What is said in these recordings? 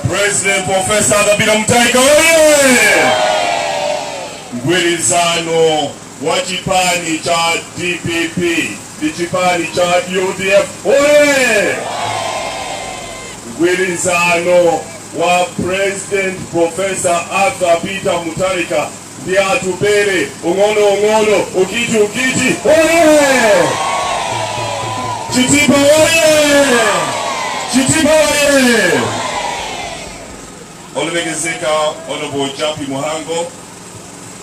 President Professor Kabila Mutharika oye! Mgwirizano wa chipani cha dpp ndi chipani cha udf hoye! Mgwirizano wa President Professor Arthur Peter Mutharika ndi Atupele ung'ono ung'ono ukiti ukiti hoye! Chitipa hoye! Chitipa hoye! Olemekezeka Honorable Jappie Mhango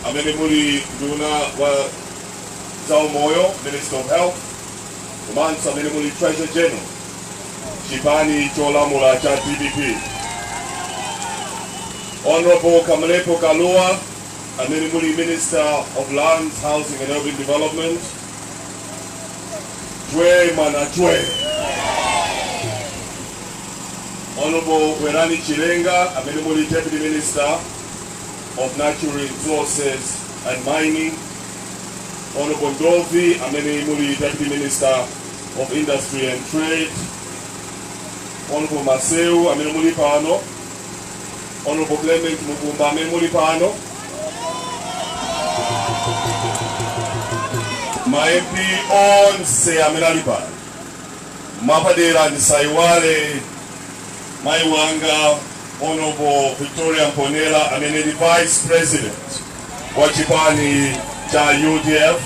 amene muli nduna wa zaumoyo minister of health komanso amene muli treasurer general chipani cholamula cha dpp honorable kamlepo kalua amene muli minister of lands housing and urban development jwe mwana jwe honorable werani chilenga amene muli deputy minister of natural resources and mining, Honorable Ndovi amene muli Deputy Minister of Industry and Trade, Honorable Maseu amene muli pano, Honorable Clement Mukumba amene muli pano, ma MP onse amene ali pano, mwapadera ndisaiwale mayi wanga Honourable Victoria Mponela amene ndi Vice President wa chipani cha UDF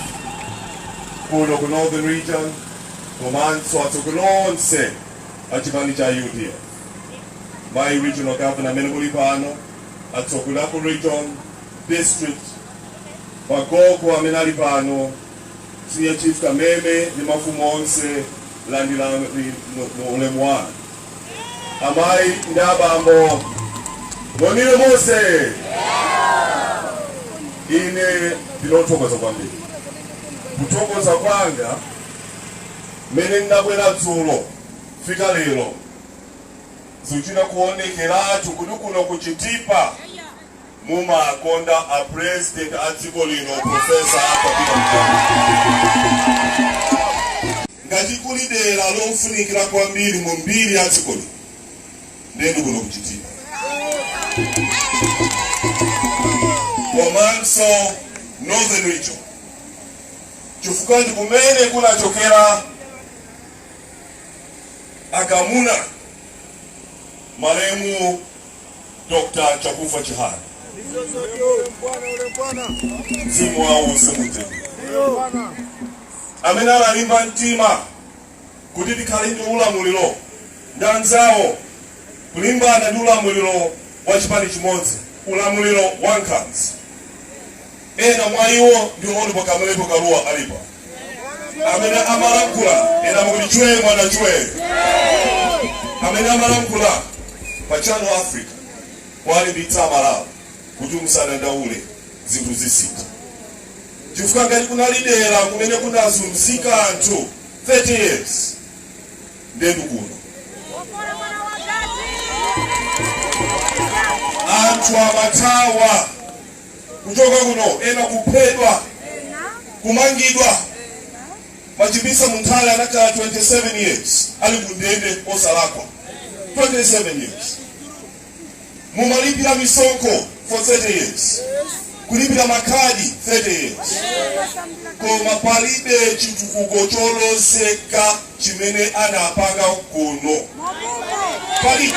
kuno ku Northern Region komanso atsogoleri onse a chipani cha UDF mayi regional governor amene muli pano atsogoleri aku region district agogo amene ali pano senior chief Kameme ndi mafumu onse landirani ulemu wanu amayi ndi abambo monire mose ine ndinothokoza kwambiri kuthokoza kwanga mmene ndinabwera dzulo kufika lero zikuchita kuonekeratu kuti kuno kuchitipa mumakonda a president a dziko lino professor Arthur Peter Mutharika ngati kuli dera lofunikira kwambiri mu mbiri ya dziko lino ndiye ndikuno ku Chitipa komanso northern region chifukwa ndi kumene kunachokera akamuna malemu Dr. Chakufwa Chihana mzimu wawo uuse mumtendere amene analimba mtima kuti tikhale ndi ulamuliro ndi anzawo kulimbana ndi ulamuliro wa chipani chimodzi ulamuliro wa nkhanza Ena mwa iwo ndi Honorable Kamlepo Kalua Kalipa amene amalankhula ena mukuti chwee mwana chwee amene amalankhula pa Channel Africa kuwalimbitsa amalawi kuti musadandaule zinthu zisintha chifukwa ngati kunali dera kumene kunazunzika anthu 30 years ndetu kuno anthu amathawa kuchoka kuno ena kuphedwa kumangidwa machipisa munthale anakhala 27 years ali kundende osalakwa 27 years mumalipira misonkho for 30 years kulipira makhadi 30 years koma palibe chitukuko cholozeka chimene anapanga kuno palibe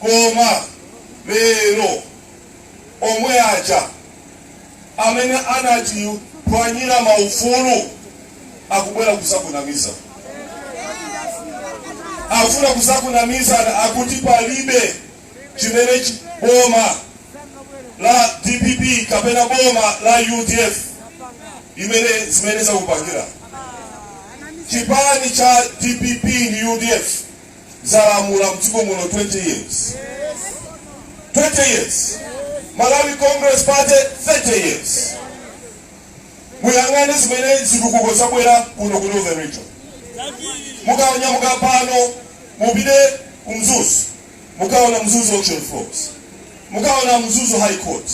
koma lero omwe aja amene anatiphwanyira maufulu akubwera kuzakunamiza afuna kuzakunamizana akuti palibe chimene chi- boma la dpp kapena boma la udf imene zimene zakupangira chipani cha dpp ndi udf zalamula mdziko muno 20 years 20 years malawi congress party 30 years muyang'ane zimene zitukuko zabwera kuno ku northern region mukanyamuka pano mupite ku mzuzu mukaona mzuzu auction floors mukaona mzuzu high court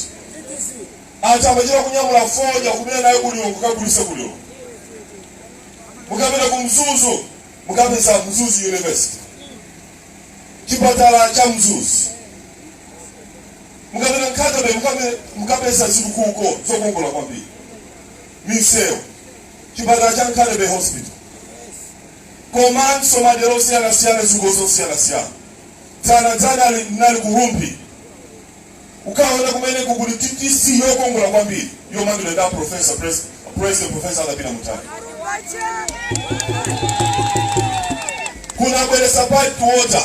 anthu amachita kunyamula fodya kumene naye ku Lilongwe kukagulitsa ku Lilongwe mukapita ku mzuzu mukapeza mzuzu university chipatala cha mzuzu mukapita nkhatabe mukape- mukapeza zitukuko zokongola kwambiri misewu chipatala cha nkhatabe hospital komanso madera osiyanasiyana zitukuko zosiyanasiyana dzana dzana ali- nali ku rumphi Ukaona kumene kukuli TTC yokongola kwambiri yomangidwa ndi professor president professor Arthur Peter Mutharika. Tinabweretsa piped water.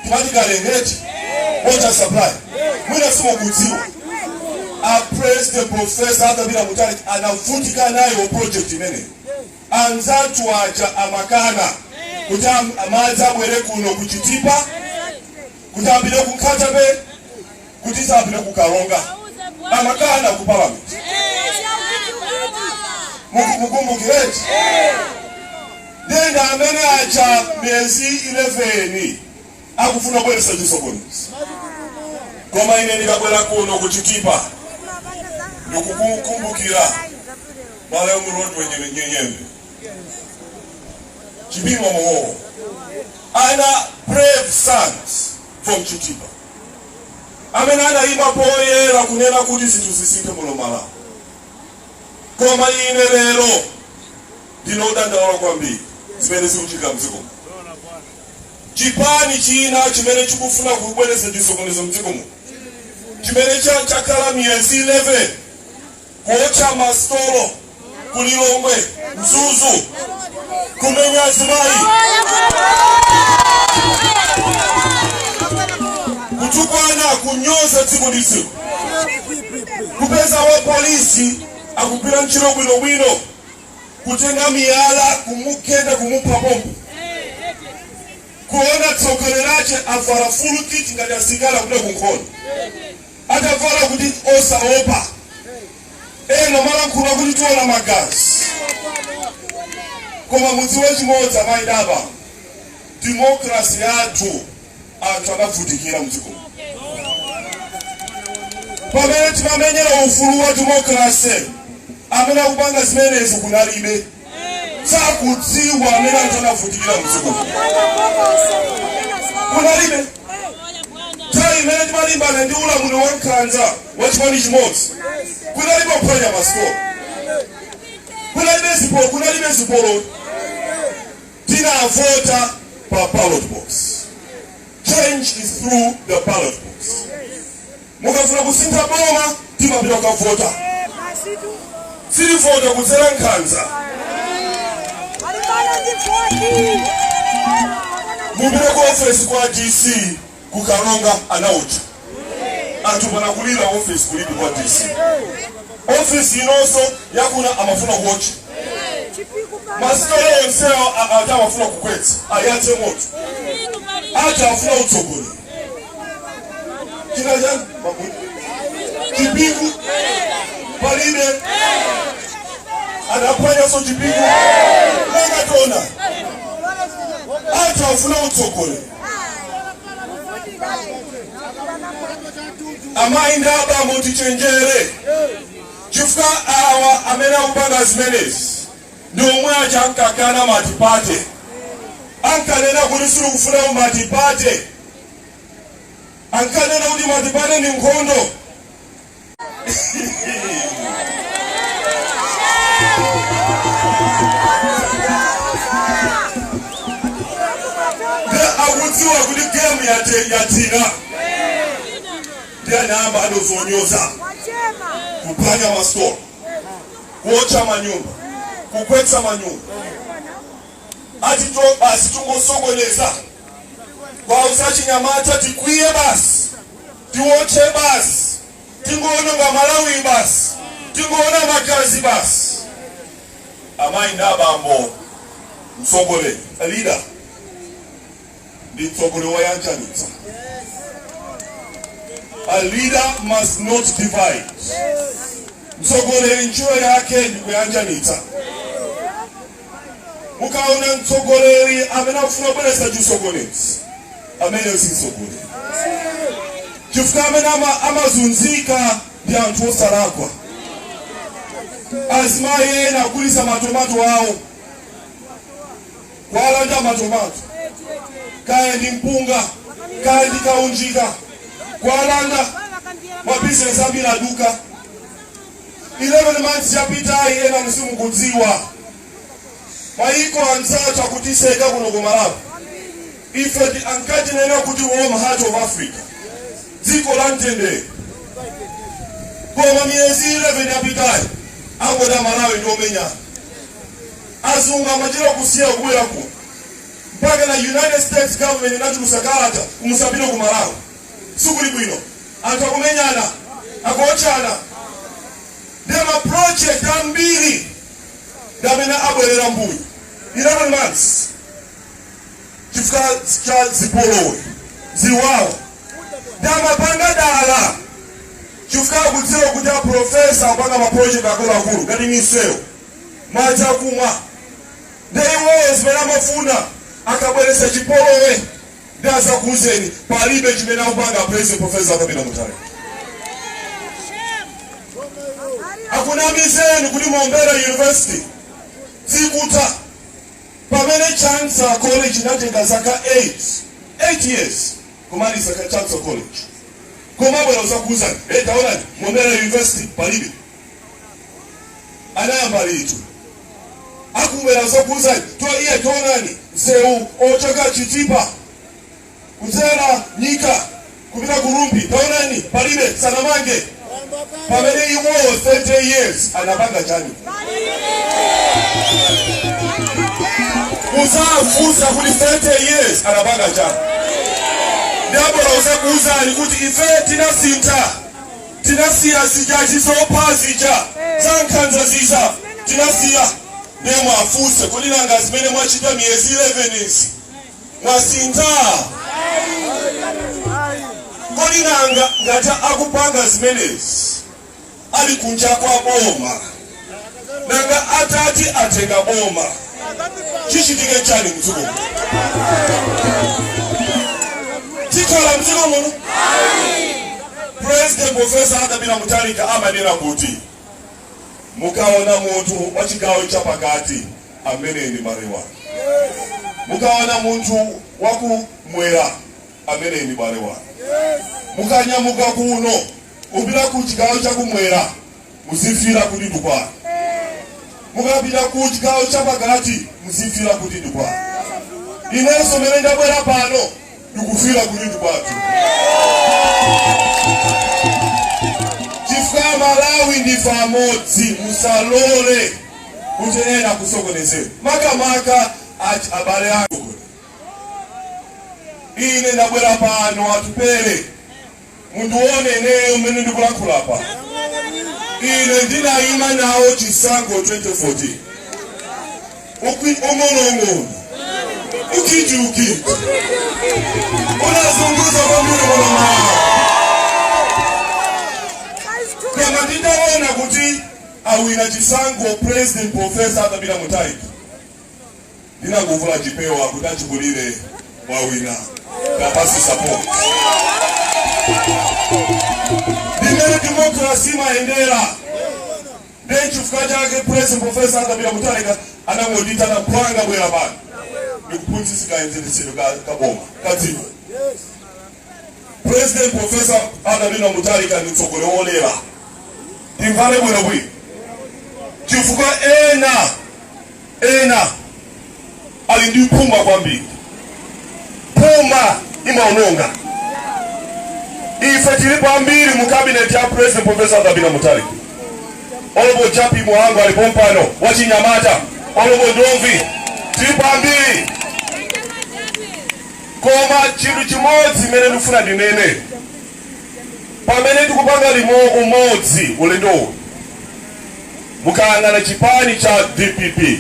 Timati Kalenge water supply. Mwina simukudziwa. A president professor Arthur Peter Mutharika anavutika nayo project imene. Anzatu aja amakana kuti madzi abwere kuno ku Chitipa kuti apite ku Nkhata Bay kuti sapite ku karonga amakana ku parliament mukumbukireti ndi anthu amene atha miyezi 11 akufuna kubweretsa chisokonezo koma ine ndikabwera kuno kuchitipa ndikukumbukira malayo murodwe nyenyenyenye Chipimo Mowo. And brave sons from Chitipa. Amene anayima poyera kunena kuti zinthu zisinthe muno Malawi. Koma ine lero ndinodandaula kwambiri zimene zikuchitika mdziko muno. Chipani china chimene chikufuna kubweretsa chisokonezo mdziko muno chimene cha- chakhala miyezi 11 kuotcha ma stolo ku Lilongwe, Mzuzu, kumenya azimayi, kutukwana, kunyoza tsiku ndi tsiku, kupeza wapolisi akugwira ntchito bwinobwino, kutenga miyala kumugenda kumupha pompo kuona tsoka lakelo avala full kit ngati asilikali kupita kunkhondo tavala kuti osaopa ena amalankhula kuti tiona magazi koma mudziwe chimodzi amayi ndi abambo demokrasi yathu anthu anavutikira mdziko pamene timamenyera ufulu wa demokrasi amene akupanga zimenezi kunalibe sakudziwa amene anthu anavutikira mdziko kunalibe nthawi imene timalimbana ndi ulamuliro wankhanza wa chipani chimodzi kunalibe kuphwanya masitolo kunalibe zipolo kunalibe zipolo tinavota pa ballot box change is through the ballot box Mukafuna kusintha boma timapita kukavota. Sitivotera kudzera nkhanza. Mupite ku office kwa DC ku Karonga anaotcha. Anthu panakulira office kulibe kwa DC. Office inonso yakuno amafuna kuotcha. Masitolo onsewo a- ati amafuna kugwetsa ayatse moto. Ati afuna utsogoleri. china chake mabuti chipingu palibe adaphwanyaso chipingu tangoona anthu afuna utsogoleri amayi ndi abambo tichenjere chifukwa awa amene akupanga zimenezi ndi omwe aja ankakana matipate ankanena kuti sitikufuna matipate ankanena kuti matipate ndi nkhondo nde akudziwa kuti gemu yate- yathina nde anayamba zonyoza kuphwanya masitolo kuotcha manyumba kugwetsa manyumba ati to basi tungosokoneza kuwauza achinyamata tikwiye basi tiotche basi tingoononga malawi basi tingoona magazi basi amayi ndi abambo mtsogoleri leader ndi mtsogoleri woyanjanitsa a leader must not divide mtsogoleri ntchito yake ndi kuyanjanitsa mukaona mtsogoleri amene akufuna kubweretsa chisokonezo ameneyo si mtsogoleri chifukwa amene ama- amazunzika ndi anthu osalakwa azimayi ena akugulitsa matomato awo Kuwalanda matomato, kaya ndi mpunga, kaya ndi kaunjika, kuwalanda mabizinesi ambiri aduka. 11 months yapitayi enanu simukudziwa mayiko anzathu akutiseka kuno ku Malawi. Ifetu ankatinena kuti warm heart of Africa, dziko la mtendere. Koma miyezi 11 yapitayi angoti aMalawi ndi omenyana. Azungu samachedwa kusiya kubwera kuno mpakana united states government inatulutsa kalata kuti musapite ku malawi sikuli bwino anthu akumenyana akuotchana nde ma project ambiri ndi amene abwerera mbuyo 11 months chifukwa cha zipolowe ziwawa nde amapanga dala chifukwa akudziwa kuti aprofesa akupanga maproject akuluakulu ngati misewu madzi akumwa nde iwowo zimene amafuna akabweretsa chipolowe nde adzakuuzeni palibe chimene akupanga a President profesa Peter Mutharika akunamizeni kuti mombera university sikutha pamene Chancellor college inatenga zaka 8 8 years kumaliza ka Chancellor college kumabwera kudzakuuzani hey, taonani mombera university palibe anayamba liti akubwera zokuza toiye taonani msewu ochoka chitipa kudzera nyika kupita ku Rumphi taonani palibe sanamange pamene iwowo 30 years anapanga chani muzafunsa kuti 30 years anapanga chani ndabwera kuzakuuzani kuti ife tinasintha Tinasiya zija zizopha zija zankhanza zija tinasiya ndiye muwafunse kodi nanga zimene mwachita miyezi 11 izi mwasintha kodi nanga ngati akupanga zimenezi ali kunja kwa boma nanga atati atenga boma chichitike chani mdziko muno tikhala mdziko muno president profesa Arthur Peter Mutharika amanena kuti mukaona munthu wa chigawo chapakati amene ndi mmalawi mukaona munthu wakumwera amene ndi mmalawi mukanyamuka kuno kupita ku chigawo chakumwera muzifila kuti ndikwanu mukapita ku chigawo chapakati muzifila kuti ndikwanu inenso mene ndabwera pano ndikufila kuti ndikwathu chifukwa malawi ndife amodzi musalole kuti ena kusokonezera makamaka ati abale ako ine ndabwera pano Atupele mundione ineyo mmene ndikulankhula apa ine ndinayima nawo chisankho 2014 Ukwi- ung'onoung'ono ukitiukiti unazunguza kwambiri mwanamama koma nditaona kuti awina chisankho president profesa Arthur Peter Mutharika ndinakavula chipewa kuti achikulire mwawina kuwapatsa support ndimene democracy imayendera ndenchifukwa chake president profesa Arthur Peter Mutharika anangondiitana mphwanga bwera pano ndikuphunzitse kayendetsedwe ka- kaboma kadziko president profesa Arthur Peter Mutharika ndi mtsogoleri wololera timvane bwino bwino chifukwa ena ena ali ndi phuma kwambiri phuma imaononga ife tilipo ambiri mu kabineti ya president profesa Arthur Peter Mutharika honourable Jappie Mhango ali pompano wachinyamata honourable ndomvi tilipo ambiri Koma chinthu chimodzi chimene ndikufuna ndinene, pamene tikupanga limu, umodzi ulendo uno, mukayang'ana chipani cha dpp,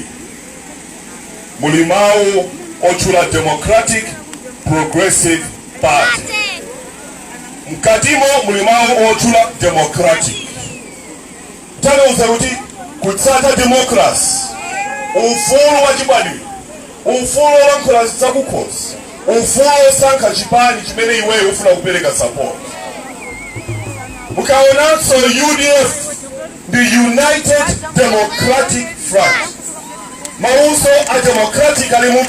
muli mawu otchula Democratic Progressive Party, mkatimo muli mawu otchula Democratic. Tanthauza kuti kutsata democracy, ufulu wa chibadwidwe, ufulu olankhula zakukhosi, ufulu osankha chipani chimene iweyo ufuna kupereka support. Mukaonanso UDF ndi United Democratic Front, mawunso a democratic alimo,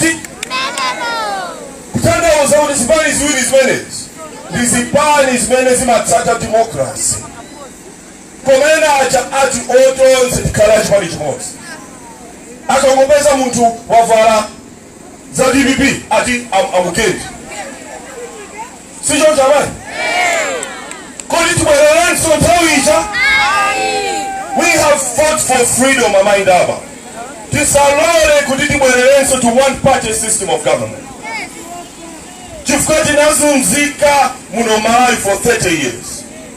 kutanthauza kuti zipani ziwiri zimenezi ndi zipani zimene zimatsata democracy Koma ena aja ati o tonse tikhale a chipani chimodzi. Akangopeza munthu wavala za dpp ati am- amugende. Si choncho abale? Kodi tibwererenso nthawi ija? We have fought for freedom amayi ndi abambo. Tisalole kuti tibwererenso to one party system of government. Chifukwa tinazunzika muno Malawi for 30 years.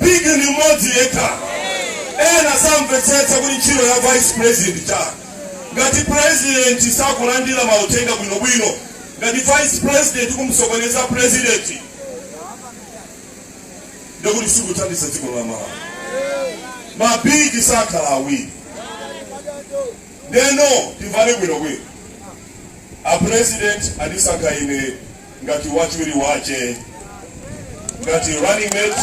bigi ndi mmodzi yekha ena samvetsetsa kuti ntchito ya vice president n'chani ngati president sakulandira mauthenga bwinobwino ngati vice president kumsokoneza president ndikuti sikuthandiza dziko la malawi mabigi sakhala awiri ndiyeno timvane bwinobwino a president andisankha ine ngati wachiwiri wache ngati running mate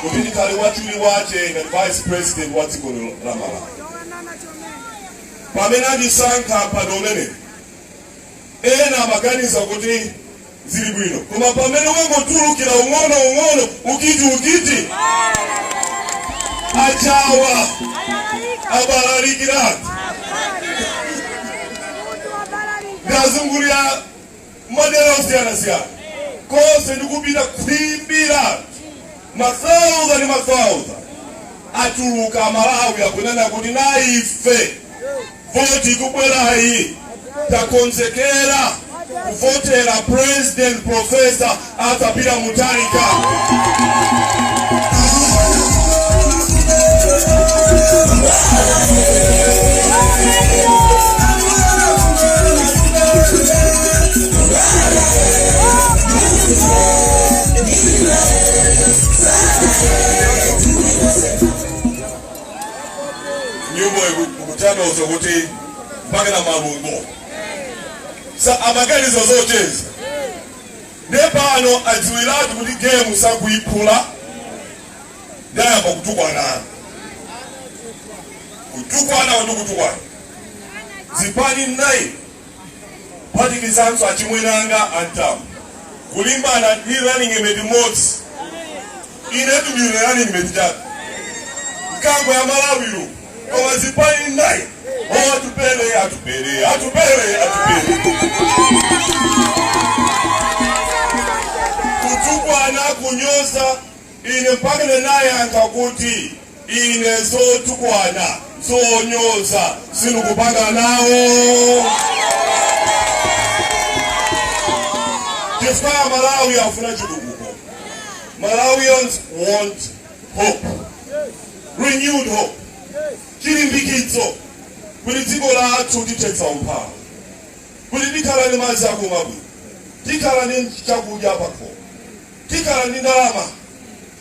kuti ndikhale wachiwiri wache ngati vice president wa dziko lino la malawi pamene andisankha mpando umene ena amaganiza kuti zili bwino koma pamene wangotulukira ung'ono ung'ono ukiti ukiti achawa abalalikira anthu ndazungulira madera osiyanasiyana konse ndikupita kwimbira mathauzandi mathauzandi atuluka amalawi akunena kuti naife Voti ikubwerayi takonzekera kuvotera President Professor Arthur Peter Mutharika. nyimbo ikutanthauza kuti mpaka na malungo anzathuwa amaganiza zocheza nde pano adziwiratu kuti gemu sakuyiphula nde ayamba kutukwana kutukwana kuti kutukwana zipani 9 kuphatikizanso achimwene anga Amutharika kulimbana ndi running mate mmodzi inetu ndine running mate chabe mkango wa Malawi koma zipani nnayi o atupele atupele atupele atupele kutukwana kunyoza Ine mpake ndinayankha kuti, Ine zotukwana, zonyoza sindikupanga nawo, chifukwa Amalawi afuna chitukuko. Malawians want hope, renewed hope, chilimbikitso kuti dziko lathu tithetsa umphawi, kuti tikhala ndi madzi akumwa bwino, tikhala ndi chakudya pakhomo. Tikhala ndi ndalama,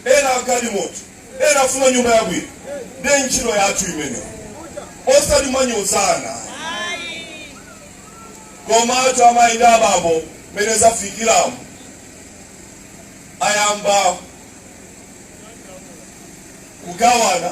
ena galimoto, ena afuna nyumba yabwino ndiye ntchito yathu imeneyo osati kumanyozana ayi. Komatu amayi ndi abambo mmene zafikiramu ayamba kugawana.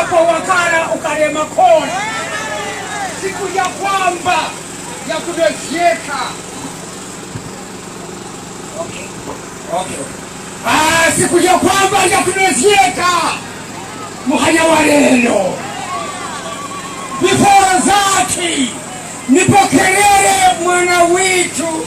apo wakala ukalema kona siku ya kwamba ya kudozieka okay. okay. Ah, siku ya kwamba ya kudozieka muhanya wa lelo before zati nipokelele mwana witu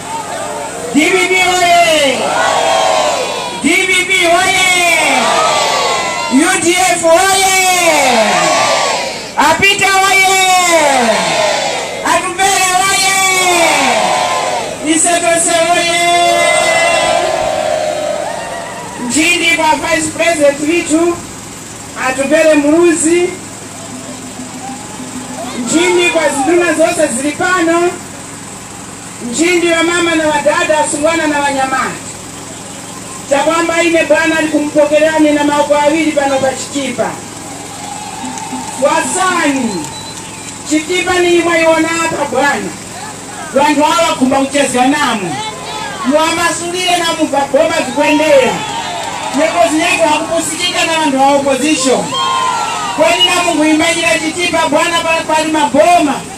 dpp oye dpp oye udf oye a peter oye atupele oye ise tose oye ntchindi kwa vice president withu atupele muluzi ntchindi kwa zinduna zose zili pano Nchindi wamama na wadada, wasungwana na wanyamata, chakwamba ine bwana nikumupokelelani na maoko awili pano pa Chitipa. Mwasanga Chitipa ni iyi mwayiwona apa bwana, wanthu awa wakhumba kuchezga namwe muwamasulile na umo za boma zikwendera nyengo zinyake wakupusikika na wanthu wa opposition kweni na mungu imbayila Chitipa bwana, pa- pali maboma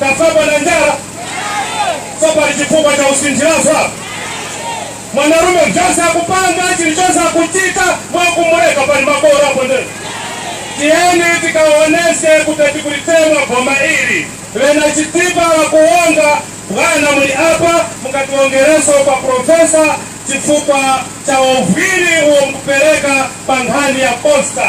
Kasuzga na njala sopali chifukwa cha usinthirafa mwanarume vyose akupanga chilichose akuchita nkumuleka pali makola apo nde tiyeni tikaoneshe kuti tikulitemwa boma ili wena chitipa wakuonga bwana muli apa mukatiwongereso kwa profesa chifukwa cha wovwiri uwo mkupereka pa nkhani ya posta